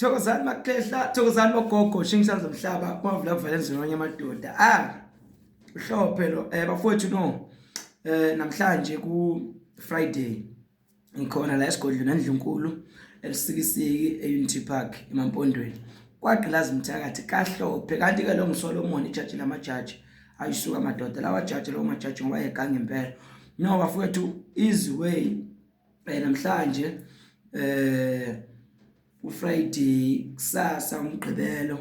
Thokozani makhehla, thokozani bogogo, shingisa zomhlaba, kwavula kuvela nzimanye amadoda. Ah. Uhlophe lo eh bafowethu no. Eh namhlanje ku Friday ngikhona la esigodlweni nendlunkulu elisikisiki eUnity Park eMampondweni. Kwagqilaza umthakathi kahlophe kanti ke lo ngiSolomon ijaji lamajaji ayisuka amadoda lawa jaji lo majaji ngoba egange impela. No bafowethu easy way eh, namhlanje eh uFriday kusasa umgqibelo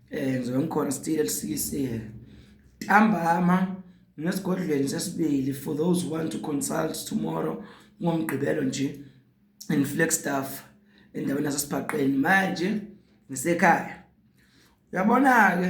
eh ngizobe ngikhona still elisikisile ntambama ngesigodlweni sesibili for those who want to consult tomorrow ngomgqibelo nje in Flagstaff endaweni yasesibhaqeni manje ngisekhaya uyabona ke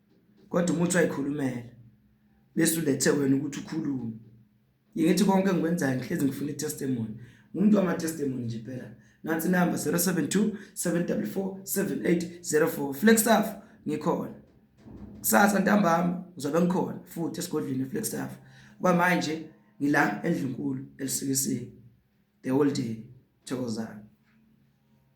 kodwa umuthi wayikhulumela bese ulethe wena ukuthi ukhulume ngithi konke engikwenzayo ngihlezi ngifuna itestimony umuntu wama testimony nje phela nansi number 072 734 7804 flexstaff ngikhona kusasa ntambama uzobe ngikhona futhi esigodlweni flexstaff kwamanje ngila endlunkulu elisikisini the whole day thokozani